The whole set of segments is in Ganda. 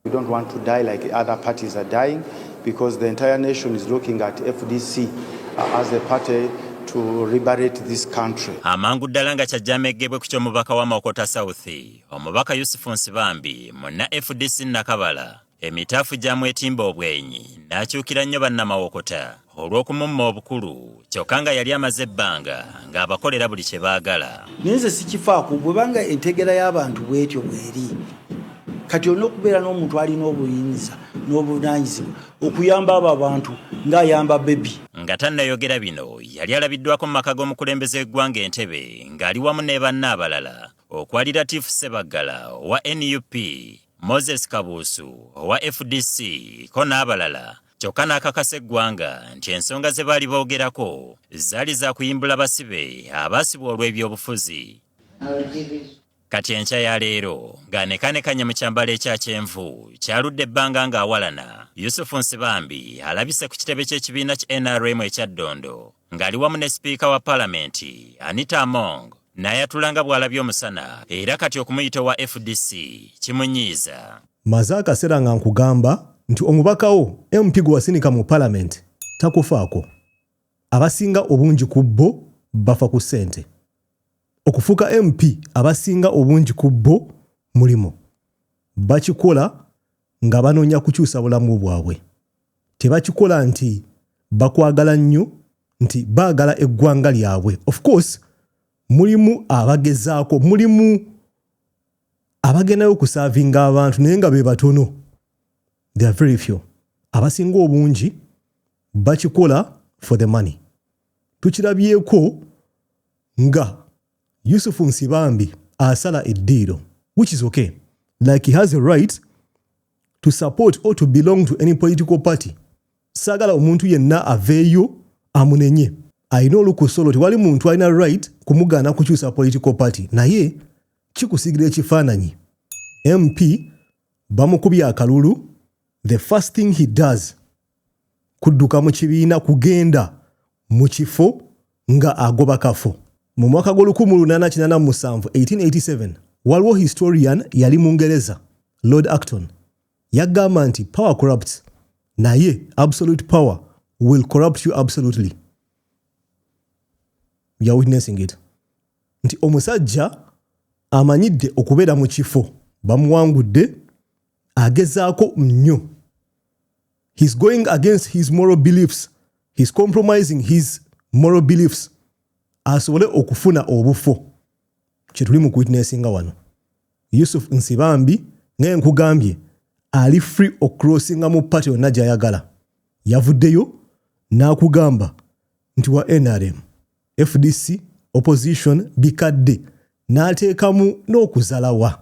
We don't want to die like other parties are dying because the entire nation is looking at FDC uh, as a party to liberate this country. Amangu ddala nga kyajjameegebwe ku ky'omubaka wa Mawokota South, omubaka Yusufu Nsibambi munna FDC Nakabala emitaafu gyamwetimba obwenyi n'akyukira nnyo bannamawokota. olw'okumumma obukulu kyokka nga yali amaze ebbanga ng'abakolera buli kye baagala. Naye nze sikifaako bwebanga entegeera y'abantu bw'etyo bw'eri. Kati olina okubeera n'omuntu alina obuyinza n'obuvunaanyizibwa okuyamba abo abantu ng'ayamba bbebi. Nga tannayogera bino, yali alabiddwaako mu maka g'omukulembeze w'eggwanga e Ntebe ng'ali wamu ne banne abalala okwali Latif Ssebaggala owa nup, Moses Kabuusu owa fdc ko n'abalala kyokka n'akakasa eggwanga nti ensonga ze baali boogerako zaali za kuyimbula basibe abaasibwa olw'ebyobufuzi. Kati enkya ya leero ng'anekanekanye mu kyambalo ekya kyenvu kyaludde ebbanga ng'awalana, Yusufu Nsibambi alabise ku kitebe ky'ekibiina ki nrm ekya Ddondo. Ng'ali wamu ne sipiika wa palamenti, Anita Among n'ayatula nga bw'alabye omusana era kati okumuyita owa fdc kimunyiiza. Mmaze akaseera nga nkugamba nti omubaka wo MP gwe wasindika mu palamenti takufaako. Abasinga obungi ku bo bafa ku ssente. Okufuuka MP abasinga obungi ku bo mulimu. Bakikola nga banoonya kukyusa bulamu bwabwe. tebakikola nti bakwagala nnyo nti baagala eggwanga lyabwe of course mulimu abagezaako mulimu abagendayo okusaavinga abantu naye nga be batono theyare very few abasinga obungi bakikola for the money tukirabyeko nga Yusuf Nsibambi asala eddiiro which is okay like he has a right to support or to belong to any political party saagala omuntu yenna aveeyo amunenye alina olukusa olwo tewali muntu alina right kumugaana kukyusa political party naye kikusigira ekifaananyi mp bamukubye akalulu the first thing he does kudduka mu kibiina kugenda mu kifo nga agoba kafo. Mu mwaka gwa lukumu lunana kinana mu musanvu, 1887, waliwo historian yali Mungereza, Lord Acton, yaggamba nti power corrupts, naye absolute power will corrupt you absolutely. We are witnessing it. Nti omusajja amanyidde okubeera mu kifo bamuwangudde agezaako nnyo he's going against his moral beliefs he's compromising his moral beliefs asobole okufuna obufo kyetuli mu kwitnessinga wano yusuf nsibambi naye nkugambye ali free okrossinga mu paty yonna gyayagala yavuddeyo n'akugamba nti wa nrm fdc opposition bikadde n'ateekamu n'okuzalawa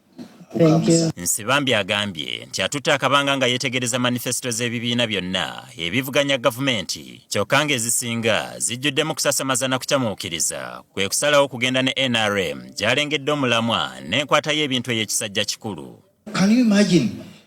Nsibambi agambye nti atutte akabanga nga yetegereza manifesito z'ebibiina byonna ebivuganya gavumenti kyokka ng'ezisinga zijjuddemu kusasamaza na kucamuukiriza kwe kusalawo okugenda ne nrm gy'alengedde omulamwa n'enkwata y'ebintu ey'ekisajja kikulu.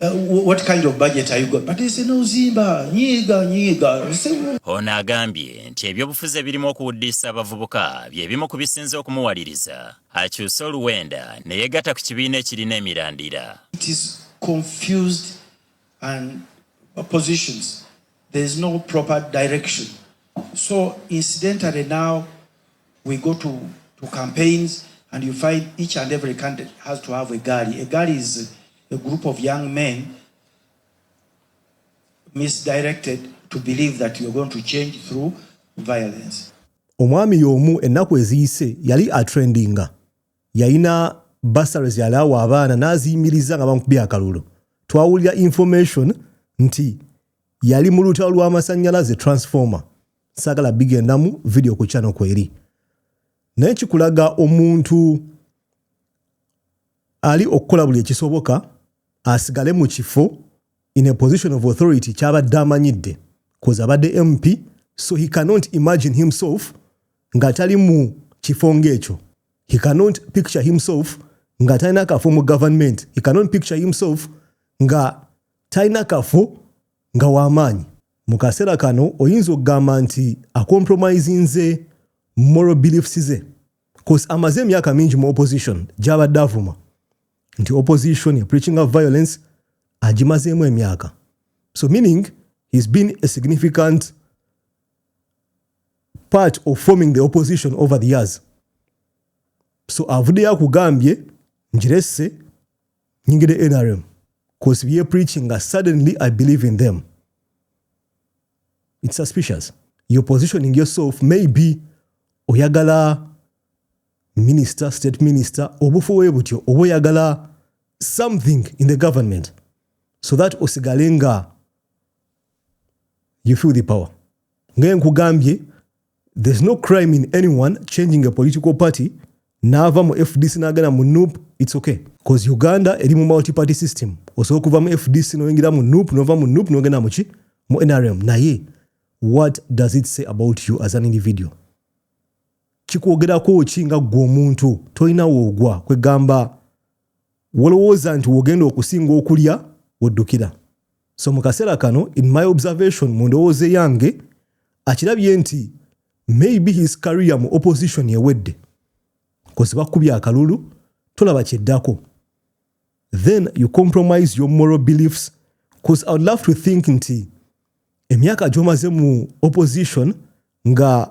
Uh, what kind of budget are you got? But it's no Zimba, nyiga, nyiga. Ono agambye nti ebyobufuzi ebirimu okuwuddiisa abavubuka bye bimu ku bisinze okumuwaliriza akyuse oluwenda ne yegatta ku kibiina ekirina emirandira. It is confused and positions. There is no proper direction. So incidentally now we go to, to campaigns and you find each and every candidate has to have a gari. A gari is a group of young men misdirected to believe that you're going to change through violence. Omwami yomu ennaku eziyise yali atrendinga yalina basares yali awa abaana n'aziyimiriza nga bamukubye akalulu twawulira information nti yali mu lutalo lw'amasannyalaze transformer sagala bigendamu video ku channel kweri naye kikulaga omuntu ali okukola buli ekisoboka asigale mu kifo in a position of authority kyabadde amanyidde koza abadde mp so he cannot imagine himself nga tali mu kifo ngaekyo he cannot picture himself nga talina kafo mu government he cannot picture himself nga talina kafo nga wamaanyi Mu kaseera kano oyinza okugamba nti akompromisinze moral beliefs ze cause amaze emyaka mingi mu opposition gyabadde avuma nti opposition ya preaching of violence agimazeemu emyaka so meaning he's been a significant part of forming the opposition over the years so avuddeyo akugambye njiresse nyingire nrm cause bye preaching nga suddenly i believe in them it's suspicious you're positioning yourself maybe oyagala minister state minister obufu we butyo oba oyagala something in the government so that osigale nga you feel the power ngaye nkugambye There's no crime in anyone changing a political party naava mu FDC nagenda mu NUP it's okay cause Uganda eri mu multi party system osobola okuva mu FDC noyingira mu NUP nova mu NUP nogenda muki mu NRM naye what does it say about you as an individual kikwogerako ki nga ggwe omuntu tolina woogwa kwegamba wolowooza nti wogenda okusinga okulya woddukira so mu kaseera kano in my observation mu ndowooza eyange akirabye nti maybe his career mu opposition ewedde kozi bakkubya akalulu tolaba kyeddako then you compromise your moral beliefs bcause i would love to think nti emyaka gyomaze mu opposition nga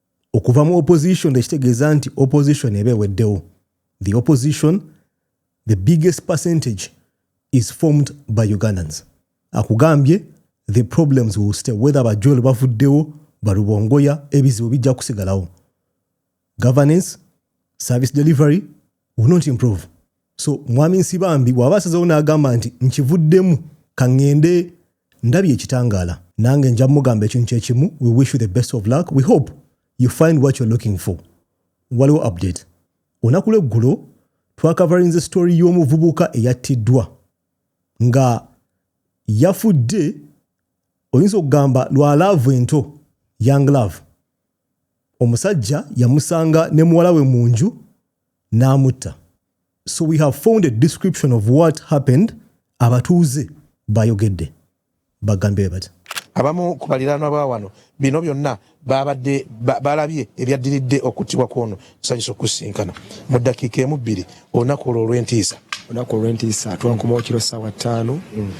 okuva mu opposition tekitegeeza nti opposition eba eweddewo the opposition the biggest percentage is formed by ugandans akugambye the problems will stay whether bajol bavuddewo balubongoya ebizibu bijja kusigalawo governance service delivery will not improve so mwami nsibambi bwaba asazewo n'agamba nti nkivuddemu kaŋŋende ndabye ekitangaala nange nja mugamba ekintu kyekimu we wish you the best of luck we hope you find what you're looking for waliwo update olunaku lweggulo twakavarinze story y'omuvubuka eyattiddwa nga yafudde oyinza okugamba lwa laavu ento young love omusajja yamusanga ne muwala we mu nju n'amutta so we have found a description of what happened abatuuze bayogedde bagambye bati abamu ku baliraanwa ba wano bino byonna baabadde balabye ebyaddiridde okuttibwa kw'ono Nsanyuse okukusinkana mu ddakiika emu bbiri olunaku olwo olw'entiisa. Olunaku olw'entiisa twankomawo kiro ssaawa ttaano mm.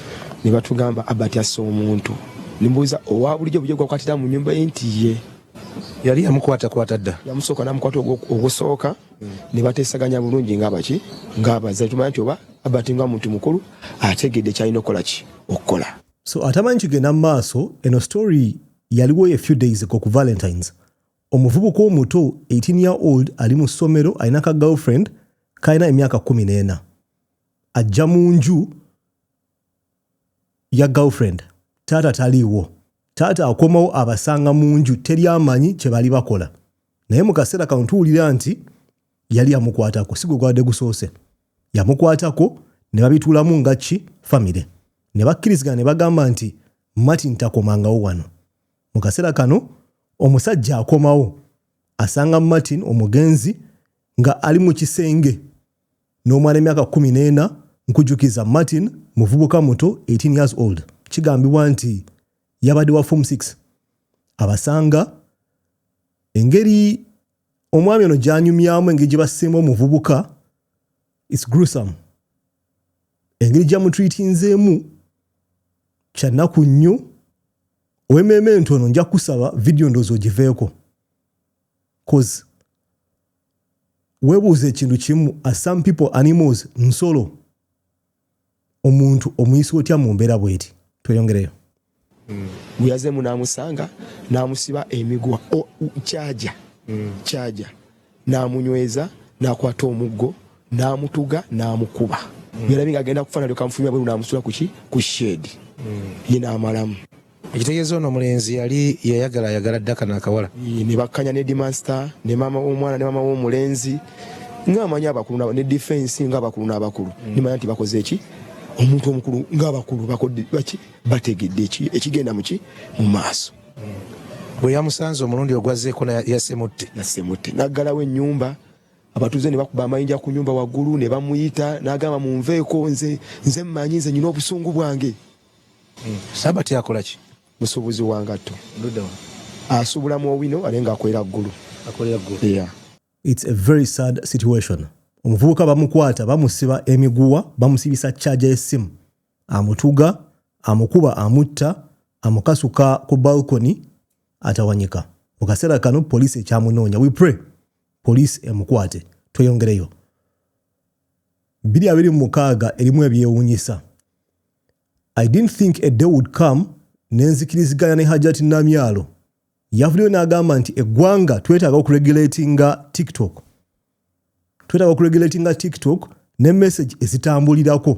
ne batugamba Abati asse omuntu. Nimbuuza owa bulijjo bujjo gwakwatira mu nnyumba ye nti ye yali yamukwatakwata dda yamusooka namukwata ogusooka mm. ne bateesaganya bulungi ng'abaki ng'abaza tumanya nti oba Abati nga muntu mukulu ategedde kyalina okukola ki okukola. So atamanyi kigenda mu maaso eno story yaliwo a few days ago ku Valentine's Omuvubuka omuto 18 year old ali mu ssomero alina ka girlfriend kalina emyaka kkumi n'ena ajja mu nju ya girlfriend taata taliiwo taata akomawo abasanga mu nju teri amanyi kye bali bakola naye mu kaseera kano tuwulira nti yali yamukwatako si gwe gwabadde gusoose yamukwatako ne babituulamu nga ki famire ne bakkirizigana ne bagamba nti martin takomangawo wano Mu kaseera kano omusajja akomawo asanga Martin omugenzi nga ali mu kisenge n'omwana emyaka 14 nkujukiza Martin muvubuka muto 18 years old kigambibwa nti yabadde wa form 6 abasanga engeri omwami ono gyanyumyamu engeri gye basiima omuvubuka its grusam engeri gyamutreatinzeemu kyannaku nnyo Owememe entu ono nja kusaba video ndozo ogiveeko cause webuuza ekintu kimu as some people animals nsolo omuntu omuyisa otya mu mbeera bweti tweyongereyo mm. gweyazeemu namusanga namusiba emigwa kyaja kyaja n'amunyweza n'akwata omuggo n'amutuga n'amukuba yalabye nga agenda kufa nalyoka amufulumya bweru n'amusula kuki ku shed ye n'amalamu ekitegeeza ono omulenzi yali yayagala ayagala dda kano akawala ne bakkanya ne dimansita ne maama w'omwana ne maama w'omulenzi ng'amanyi abakulu ne difensi ng'abakulu n'abakulu nimanya nti bakoze eki omuntu omukulu ng'abakulu bakodde baki bategedde ekigenda muki mu maaso bwe yamusanze omulundi ogwazzeeko yasemutte nasemutte naggalawo ennyumba abatuuze ne bakuba amayinja ku nyumba waggulu ne bamuyita n'agamba munveeko nze nze mmanyi nze nyina obusungu bwange hmm. sabati akola ki musuubuzi wa ngatto asuubula mu owino ale nga akolera ggulu its a very sad situation omuvubuka bamukwata bamusiba emiguwa bamusibisa charge y'essimu amutuga, amukuba amutta, amukasuka ku balcony atawanyika. Mu kaseera kano poliisi ekyamunoonya. We pray poliisi emukwate. Tweyongereyo. Bbiri abiri mu mukaaga erimu ebyewuunyisa. I didn't think a day would come ne nzikiriziganya ne Hajati Namyalo. Yavuddeyo n'agamba nti eggwanga twetaaga okuregulatinga TikTok. Twetaaga okuregulatinga TikTok ne message ezitambulirako.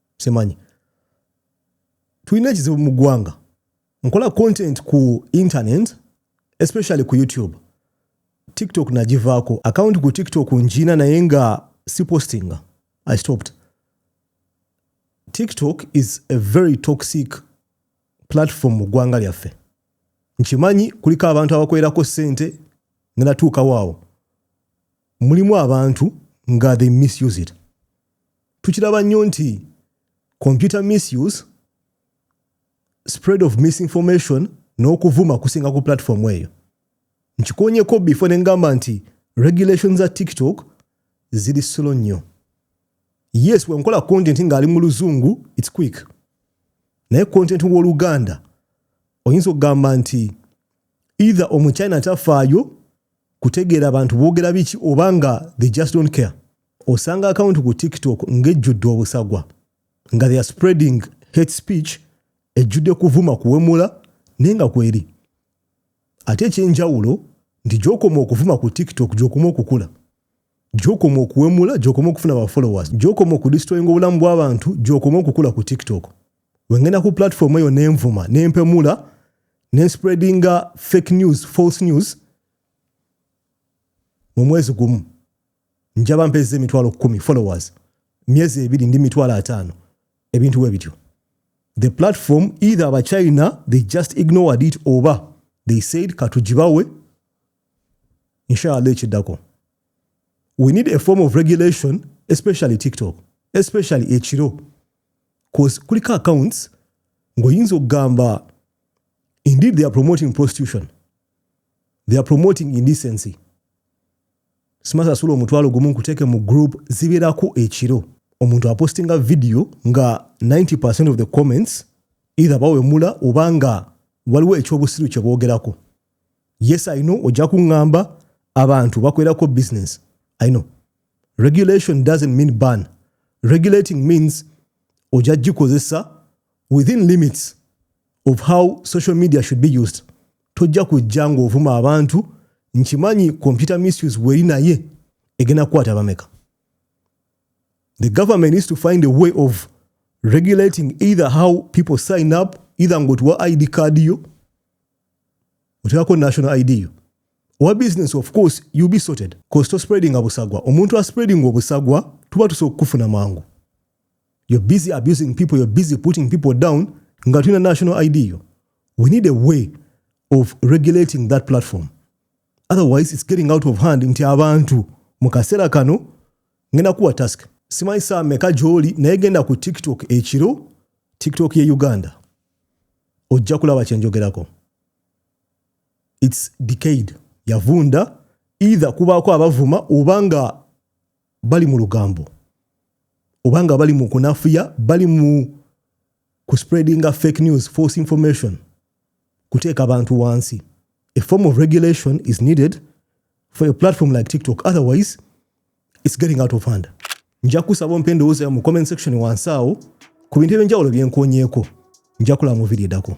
simanyi tulina ekizibu mu ggwanga nkola content ku internet especially ku youtube tiktok nagivaako akawunti ku tiktok njiina naye nga si postinga i stopped tiktok is a very toxic platform mu ggwanga lyaffe nkimanyi kuliko abantu abakolerako ssente nga natuukawo awo mulimu abantu nga they misuse it tukiraba nnyo nti computer misuse spread of misinformation n'okuvuma kusinga ku platform eyo nkikonyeko before ne ngamba nti regulations za tiktok ziri solo nnyo yes wenkola content ng'ali mu luzungu its quick naye content w'oluganda oyinza okugamba nti either omuchina tafaayo kutegeera abantu boogera biki oba nga they just don't care osanga akawunti ku tiktok ng'ejjudde obusagwa nga theyare spreading hate speech ejjudde kuvuma kuwemula naye nga kweri ate ekyenjawulo nti gyokoma okuvuma ku tiktok gyokoma okukula gyokoma okuwemula gyokoma okufuna ba followers gyokoma okudistroyinga obulamu bw'abantu gyokoma okukula ku tiktok wengenda ku platform eyo nenvuma nempemula nenspreadinga fake news false news mu mwezi gumu njaba mpeza emitwalo kumi followers myezi ebiri ndi mitwalo ataano ebintu we bityo the platform either abachina they just ignored it oba they said katugibawe inshallah ekiddako we need a form of regulation especially tiktok especially ekiro cause kuliko accounts ngoyinza okugamba indeed they are promoting prostitution they are promoting indecency Sima sasula omutwalo gumu nkuteke mu group zibirako ekiro. Omuntu apostinga video nga 90% of the comments either bawemula oba nga waliwo ekyobusiru kyebogerako. Yes I know ojja kungamba abantu bakwerako business. I know. Regulation doesn't mean ban. Regulating means ojja gikozesa within limits of how social media should be used tojja kujja ng'ovuma abantu nkimanyi computer misuse weri naye egenda kukwata abameka the government needs to find a way of regulating either how people sign up either ng'otuwa id card yo oteekako national id yo owa business of course you be sorted cause to spreading abusagwa omuntu a spreading obusagwa tuba tusobola okukufuna mangu you're busy abusing people you're busy putting people down nga tulina national id yo we need a way of regulating that platform otherwise it's getting out of hand nti abantu mu kaseera kano ngenda kuwa task simanyi saa meka gyoli naye genda ku tiktok ekiro tiktok ye uganda ojja kulaba kyenjogerako its decade yavunda either kubaako abavuma oba nga bali mu lugambo oba nga bali mu kunafuya bali mu ku spreadinga fake news false information kuteeka abantu wansi a form of regulation is needed for a platform like tiktok otherwise it's getting out of hand nja kusaba ompa endowooza mu comment section wansi awo ku bintu ebyenjawulo byenkonyeeko nja kulaba mu vidiyo edako